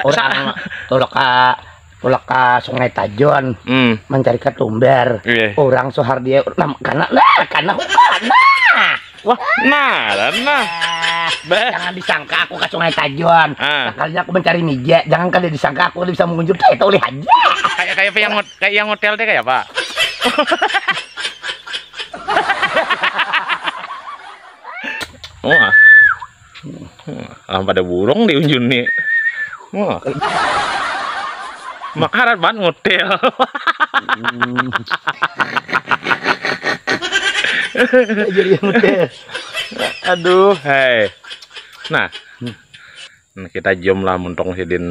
Orang tulak ka tulak ka Sungai Tajon Hmm. mencari ketumbar. Iya. Orang sohar dia nam karena nah karena hutan. Nah. Wah, nah, dan nah. Ah, Bah. jangan disangka aku ke Sungai Tajon. Ah. Sekalinya aku mencari mija, jangan kada disangka aku bisa mengunjur teh itu ulih aja. Kayak kayak apa yang ngot- kayak yang hotel teh kayak apa? Wah. Alam pada burung di unjun ni. Wah. Makarat banget ngotel. Jadi ngotel. Aduh, hai. Nah. Nah, kita jom lah muntong sidin.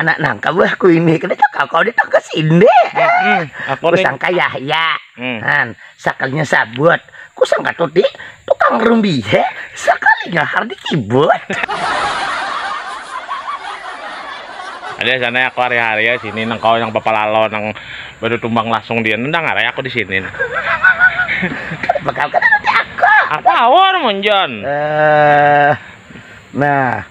anak nang kabuah ku ini kada cakal kau di tangkas ini hmm, aku sangka Yahya hmm. han sakalinya sabut ku sangka tuti tukang rumbi he sakalinya hardi kibut ada sana aku hari-hari ya sini nang kau yang papalalo nang baru tumbang langsung dia nendang hari aku di sini bakal kena aku aku awal monjon eh, nah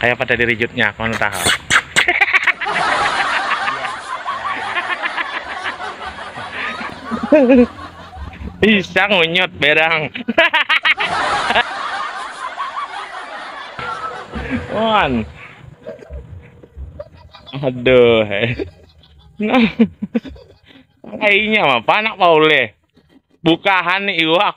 Kaya pada di rejut nya kawan taha. Bisa ngunyut berang. Wan. Aduh. Nah. Kayaknya apa nak pauleh. Bukahan iwak.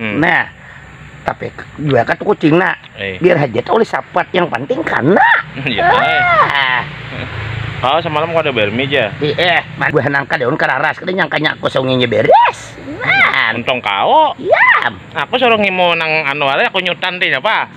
Hmm. Nah, tapi juga kan kucing nak eh. biar hajat oleh sapat yang penting karena ya, ah. Oh semalam kau ada bermi aja iya man gue nangka daun kararas kena nyangka nyak kosong ini beres man untung kau iya aku suruh ngimu nang anu aku nyutan deh apa